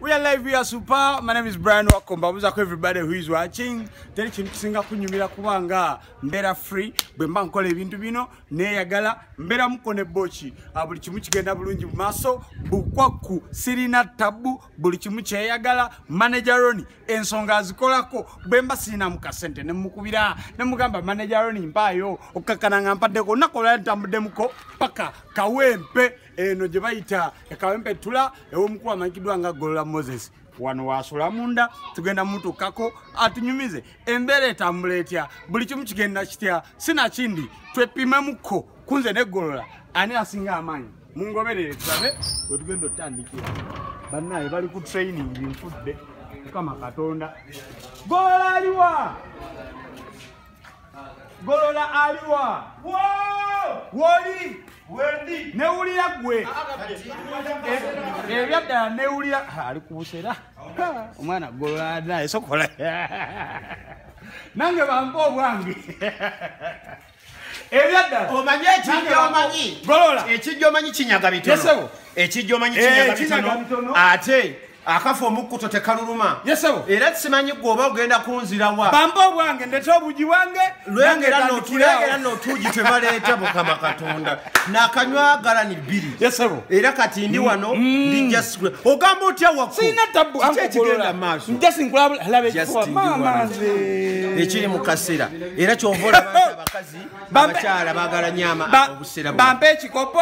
We are live, we are super. My name is Brian Wakomba. Muza ko everybody who is watching. Teri kintu kisinga kunyumira kubanga mbera free bwe mba nkola ebintu bino neyagala mbera muko ne bochi. Abuli ah, kimu kigenda bulungi maso bukwaku sirina tabu buli kimu kyeyagala manager Roni ensonga azikolako bwe mba sirina mu kasente ne mukubira ne mugamba manager Roni mpayo okakana ngampadde ko nakola ntambudde muko paka kawempe eno gye bayita ekawempe tula ew'omukulu amanyikiddwa nga golola moses wano wasula munda tugenda mutukako atunyumize embeera etambula etya buli kimu kigenda kitya sinakindi twepimemukko kunze negolola ani asinga amaanyi mungoberere tulabe wetugenda otandikira banaye bali ku training binfudde mukama katonda golola aliwa golola aliwa woli newulira gwe ebyaddala newulira ali kubusera omwana golola naye sokola nange bampa obwange ebyaddala omanyi ekijja omanyi golola ekijja omanyi kinyaga bitono ekijja omanyi kinyaga bitono ate akafa omukkuto tekaluluma yesebo era simanyi gwe oba ogenda kunzira wa bamba obwange ndete obugi bwange lwengera notugi twebaleeta mukama katonda nakanywagala ni bbiri yesebo era kati ndi mm, wano mm. ndijja sikula ogamba otya wakuina tabu ekigenda maaso ekiri mu kaseera era kyova olaba abakazi abakyala bagala nyama obusera bampa ekikopo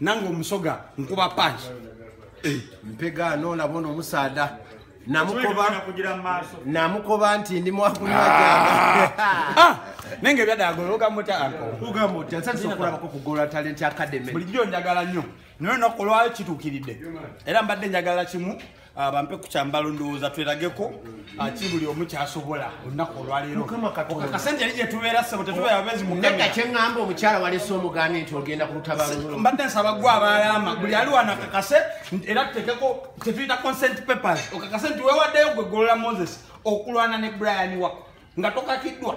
nange omusoga nkuba panki eh, mpega nolaba ono omusaada namukoba nti ndi mwakunywanenge byadagologamutansantisokulabako kugola talenti academy bulijjo njagala nnyo naye naku lwayo kituukiridde era mbadde njagala kimu Ah, bampe ku kyambalo ndowooza twerageko aki ah, buli omu kyasobola olunaku olwaleerokakasente yali gyetubeera sebo tetubeera bezi mukega kyeŋamba omukyala walese omugambye nti ogenda ku lutabalolo mbadde nsaba gwe abaalaama buli ali wano akakase era tutekeko kyetuyita consent papers okakase nti wewaddeyo gwe golola moses okulwana ne brian wako nga tokakiddwa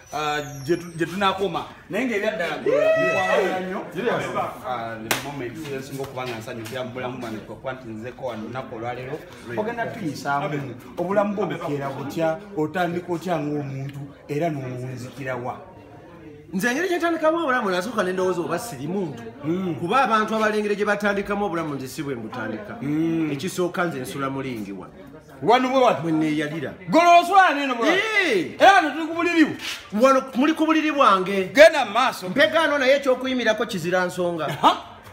Ah, gye tunakoma naye ngaebyaddala nyosinga okuba nga nsanyu bya mubulamu bwange kwekuba nti nzeko wano lunaku olwaleero ogenda tuyisaamu obulamu bwo bukeera butya otandika otya ngaomuntu era nowunzikirawa nze engeri gyentandikamu obulamu nasooka nendowooza oba siri muntu hmm. kuba abantu abalengere gye batandikamu obulamu nze si bwe mbutandika hmm. ekisooka nze nsula mulingiwa wano bwe wati bwe neeyalira golo oswala neeno bwe era wano tuli ku buliri bwo wano muli ku buliri bwange genda mu maaso mpegaano naye ekyokuyimirako kizira nsonga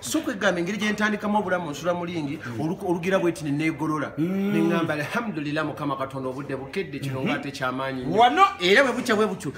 so kwegamba engeri gyentandikamu obulamu nsula mulingi olugira bweti nenegolola mm. neamba alhamdulillah mukama katonda obudde bukedde kino nga mhm. ate kyamaanyi era bwebukya bwebutyo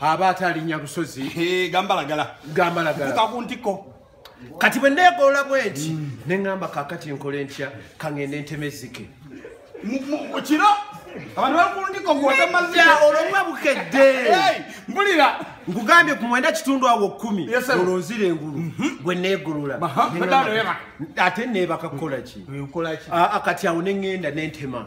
aba atalinya busozi gambalagala gambalagala kuka ku ntiko kati bwe neegolola bwenti mm. ne ŋŋamba kaakati nkole ntya kaŋŋende ntema ezzike kiro abantu bali ku ntiko gwotemazi olwokuba bukedde mbulira nkugambye ku mwenda kitundu awo kkumi olonzira engulu mhm. gwe neegolola ate neebaka kukola ki eh, ah, ah, kati awo ne ŋŋenda ne ntema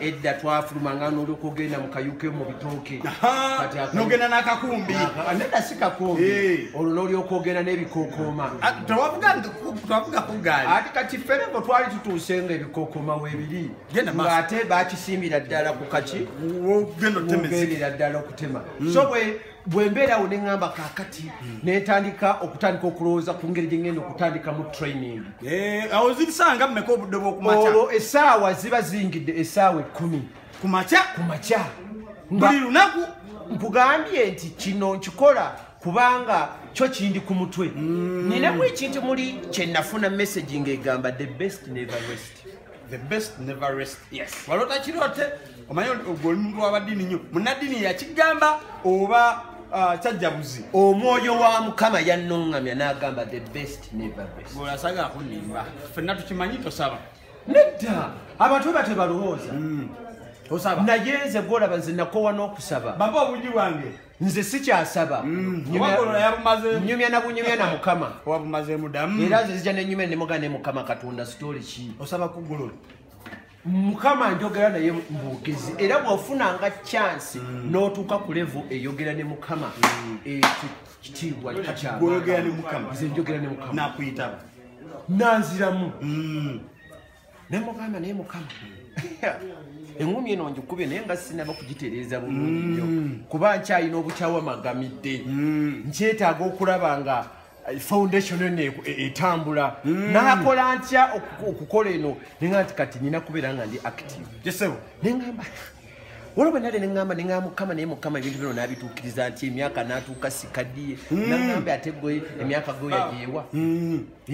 edda twafulumanga noloka ogenda mukayuke mubitooke nogenda nakakumbi neda si kakumbi eh. olwo nolyoka ogenda nebikokooma ah, ati kati ferebo twali tutuuse nga ebikokooma webiri nga ate bakisimbira ddala ku kaki ogendera ddala okutema hmm. so bwe bwembeerawo neŋamba kakati hmm. netandika okutandika okulowooza ku ngeri gyengenda okutandika mu training eh, awo zibisanga mumeka obudde bwokumakya olwo esaawa ziba zingidde esaawa ekkumi kumakya kumakya buli lunaku nkugambye nti kino nkikola kubanga kyo kindi ku mutwe hmm. ninamu ekintu muli kyenafuna messaging egamba the best never west the best never rest yes walota kirote omanyi ogwo omuntu wabadini nnyo munaddini yakigamba oba uh, kyajjabuzi omwoyo wa mukama yannoŋŋamya n'agamba the best never rest gweolasanga akunimba fenna tukimanyi tosaba nedda abantu batyo balowooza mm. osaba naye nze gwolaba nze nakowa n'okusaba baba obungi bwange nze sikyasaba mm. nyumya nabunyumya na mukama era nze zija nenyumya nemuga ne mukama katonda story ki osaba kugulu mukama njogera naye mbogezi era bwofunanga chansi mm. notuuka ku levo eyogera ne mukama mm. ekyo kitiibwa kikyamanze njogera ne mukama nanziramu ne mugamba naye mukama eŋumi eno ngikube naye nga sinaba kugitereeza bulungi nyo mm. kuba nkyalina obukyawa magamidde mm. nkyetaaga okulaba nga eh, foundation eno e, e, etambula mm. nakola ntya okukola eno nenga nti kati nina kubeera nga ndi active jesebo nengamba waliwo bwenali neŋamba neŋa mukama naye mukama ebintu bino nabituukiriza nti emyaka natuuka sikadiye naŋambe ate gwe emyaka gweyajeewa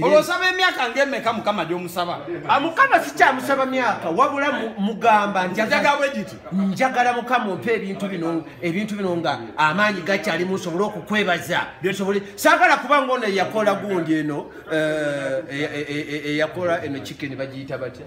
olwosaba emyaka ngemeka mukama gyomusaba ah, mukama sikyamusaba myaka wabula mugamba ntiagabwegiti njagala mukama ompa ebintu bino ebintu bino nga amaanyi gakyali musobole okukwebaza byosobole sagala kuba ngaono eyakola gundi eno eh, eh, eh, eyakola eno kikeni bagiyita batya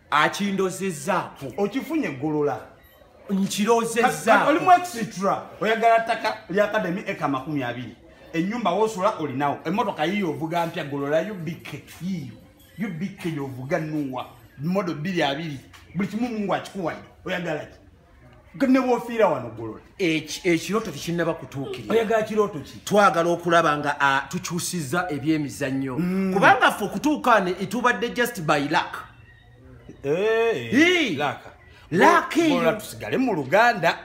akindozezzaako okifunye eggolola nkirozezzaolimu extra oyagala ttaka lyakademi eka amakumi abiri enyumba wosula olinawo emotoka yiyo ovuga mpya gololayo bikke yiyo yo bikke yovuga nuwa modo biri abiri buli kimu mungu akikuwayo oyagalaki nebwofiira wano golola ekirooto tekinnaba kutuukirira oyagala kirooto ki twagala okulaba nga tukyusiza ebyemizannyo mm. kubanga ffe okutuukaane itubadde just by luck eh, laaka eyo tusigale mu luganda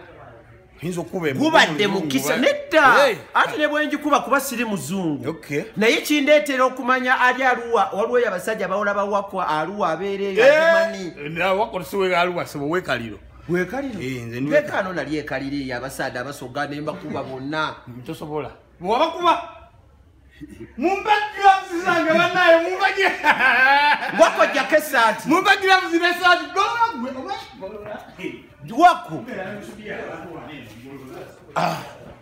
gubadde mukisa nedda anti ne bwengikuba kuba siri muzungu naye kindeetera okumanya ali aluwa waliwo eyo abasajja bawola bawakwa aluwa abeereyoaluwasewekaliro wekalirowekano nali ekaliro eyo abasaadde abasoga ne mbakuba bonna tosobola wabakuba mumbagirauzizange banaye mumbagi wakojjako esaati mumbagirauzira esaati wako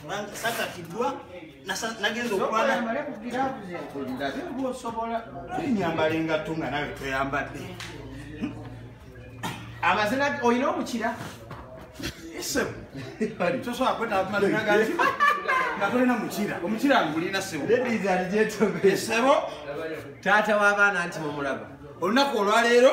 kubanga sakatiddwa nagenza okwanaaosobola enyambala engatto nga nawe toyambadde amazina olina omukira sebo tosobola kwetaaamazina gange nga tolina mukira omukira ngulina sebo sebo taata w'abaana nti mumulaba olunaku olwaleero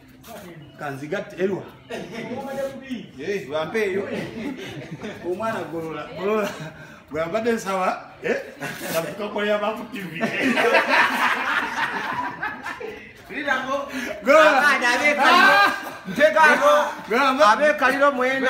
kanzigatte erwa eh, bampe eyo omwana golola golola gwambadde nsaba eh? nakukakolera baku tv nteekaako abeekaliro mwena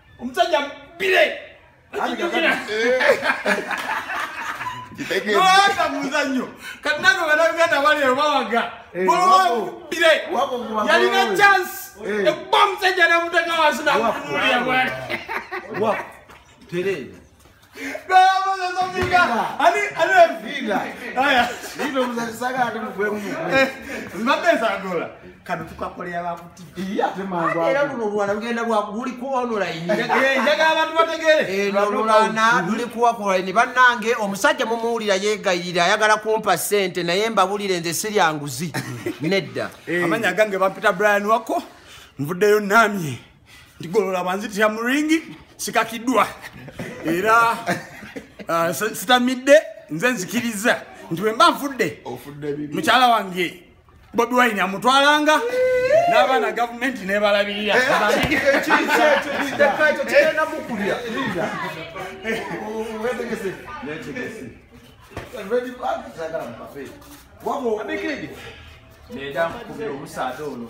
omusajja bire noyaka muzanyo kati nange banaganda bali ebawaga bire yalina chance ekuba omusajja namuteka wansi nakunulia bwale era luno olwana lugenda lwakuli ku onlinejaga abantu bategere eno olwana luli kuwa ku online bannange omusajja mumuwulira yegayirira ayagala kumpa sente naye mbabulire nze siryanguzi nedda amanya gange bampita brian wako nvuddeyo namye ndigolola banzitira mu ringi sikakiddwa era uh, sitamidde nze nzikiriza nti bwe mba nfudde mukyala wange bobi wine amutwalanga n'abaana gavumenti nebalabirira Wabo. Abekedi. Neda mkubira omusaadha ono.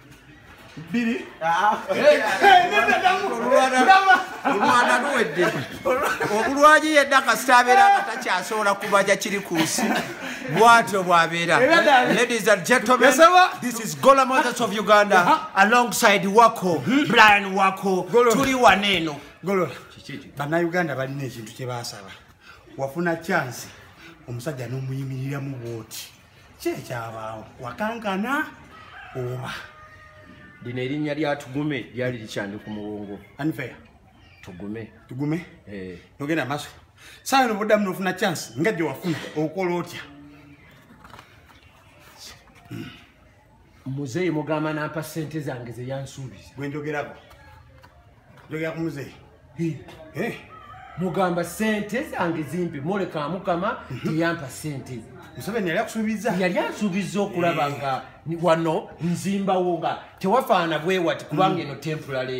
bbiri olwana luwedde obulwaji yedda kasita abeera nga takyasobola kubaja kiri ku nsi bwatyo bwabeera ladies and gentlemen this is gola mothers of uganda uh-huh. alongside wako hmm? brian wako tuli wana eno golola banauganda balina ekintu kyebasaba wafuna chansi omusajja n'omuyimiriramu bwoti kyekyabaawo wakankana oba lino erinnya lya tugume lyali likyandi ku muwongo anfeya tugume tugume eh. nogenda maaso saawa eno buddamu nofuna chance nga gye wafuna okola otya hmm. muzeeyi mugamba nampa sente zange zeyansuubiza bwenjogerako njogera ku muzeeyi eh? mugamba sente zange zimpe moleka mukama mhm. teyampa sente museveni yali akusuubiza yali ansuubiza okulaba eh. nga wano nzimbawo nga tewafaana bwewati kubanga mm. eno temporary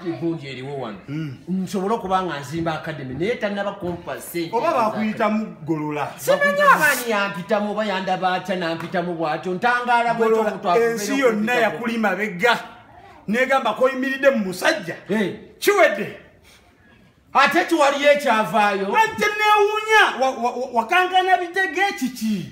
egundi mm. eriwo wano mm. nsobole okuba nga nzimba akademi naye tanaba kumpa sente oba bakuyitamu golola simanyi abaani yampitamu oba yandaba atya nampitamu bwatyo ntangaala bwetobutwaensi yonna yakuli mabega negamba koyimiridde mu musajja kiwedde ate kiwaliyo ekyavaayo ate newunya wakankana bitege kiki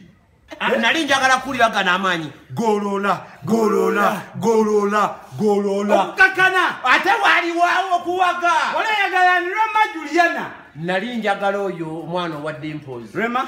Ah, nali njagala kuwulira gano amaanyi golola golola golola golola okukakana ate waliwawo okuwaga olayagala ni rema juliana nali njagala oyo omwana owadde mpozi rema